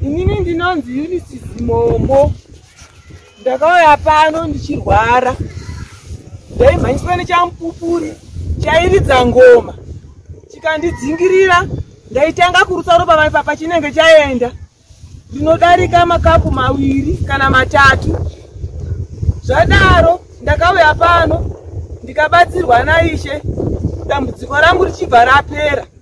inini ndinonzi unisi zimombo ndakauya pano ndichirwara ndaimhanyiswa nechamupupuri chairidza ngoma chikandidzingirira ndaitanga kurutsa ropa mai papa chinenge chaenda ndinodarika makapu maviri kana matatu zvadaro ndakauya pano ndikabatsirwa naishe dambudziko rangu richibva rapera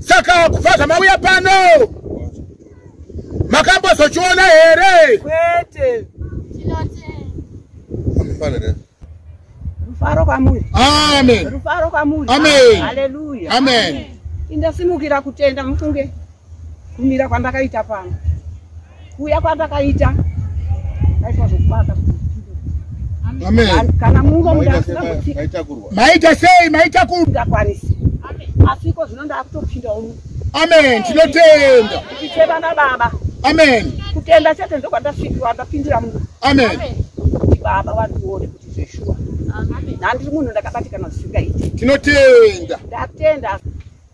saka kubva zvamauya pano makambozochiona here kwete rufaro kwamuri amen rufaro kwamuri amen haleluya amen indasimukira kutenda mufunge kumira kwandakaita pano kuuya kwandakaita aitwa zvokubata kana mungo mudaaitakurwa maita sei maita kundakwanisi asiko zvino ndaakutopindawo mu amen tinotenda tichitenda na baba amen kutenda chete ndokwandafikirwa ndapindira mungu amen baba vandione kuti zveshuwa nhandiri munhu ndakabatikana zvisingaiti tinotenda ndatenda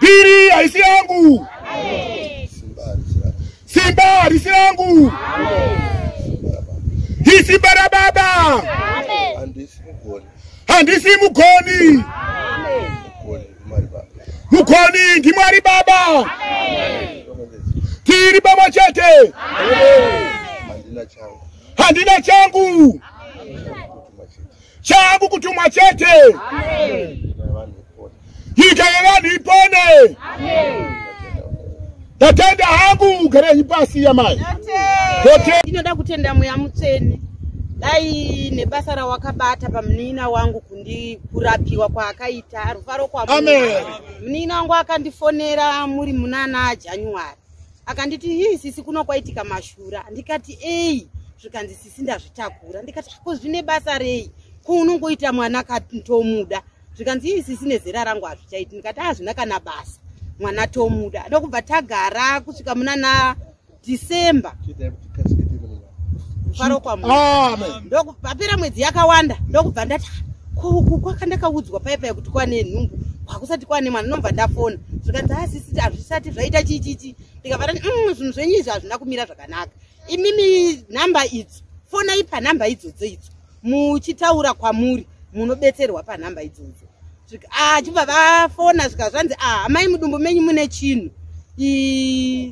Piri haisi yangu. Simba harisi yangu. Isimba rababa. Handisi mugoni. Mugoni ndimwari baba. Tiri baba chete. Handina changu. Changu kutumwa chete. Nyika yevanhu ipone. Ndatenda hangu ugarenyi pasi yamai. Ndinoda kutenda mweya mutsvene. Dai nebasa rawakabata pamunina wangu kundi kurapiwa kwaakaita rufaro kwa Amen. Munina wangu akandifonera muri munana January. akanditi hii sisi kuno kwaitika mashura ndikati ei zvikanzi sisi ndazvitakura ndikati ko zvine basa rei ko unongoita mwana katomuda zvikanzi hii sisi nezera rangu hazvichaiti ndikati hazvina kana basa mwana tomuda ndokubva tagara kusvika muna na december kufarokwa ndokupapera mwedzi yakawanda ndokubva ndati kuku kwaka ndakaudzwa paipa yekuti kwane nhumbu kwakusati kwane mwana ndomva ndafona zvikanzi asisi ah, hazvisati zvaita chichichi ndikavati mm, zvinhu zvenyu izvi hazvina kumira zvakanaka imimi nhamba idzo fonai panhamba idzodzo idzo muchitaura kwamuri munobetserwa panhamba idzodzo ah, chibva vafona svika zvanzi ah, amai mudumbu menyu mune chinhu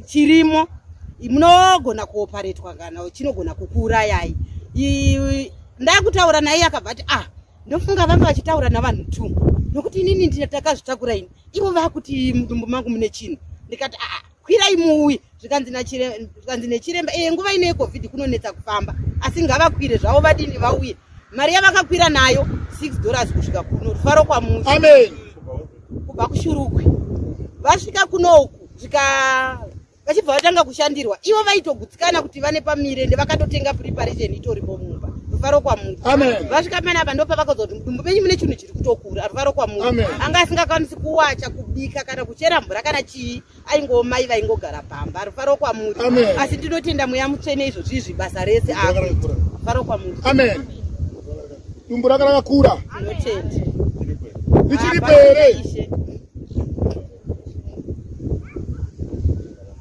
chirimo munogona kuoparetwa kana chinogona kukuurayai ndakutaura naye akabva ati ah ndofunga vanga vachitaura navanhu two nokuti inini ndakazvitakura ini ivo vakuti mudumbu mangu mune chinhu ndikati aa ah, ah, kwirai muuye zvikanzi nechiremba eye nguva ino yecovid kunonetsa kufamba asi ngavakwire zvavo vadini vauye mari yavakakwira nayo six dollars kusvika kuno rufaro kwamuti amen kubva kushurukwe vasvika kuno uku zvika vachibva vatanga kushandirwa ivo vaitogutsikana kuti vane pamire ndevakatotenga preparation itoripo mumba rufaro kwamuti amen vasvika panapa ndopavakazoa kuti mudumbu menyu mune chinhu kutokura ruvaro kwamuri anga asingakwanisi kuwacha kubika kana kuchera mvura kana chii aingoo mai vaingogara pamba rufaro kwamuri asi ndinotenda mweya mutsvene izvo zvizvi basa rese akuita rufaro kwamuri amen dumbu raka rakakura ndinotenda richiripo here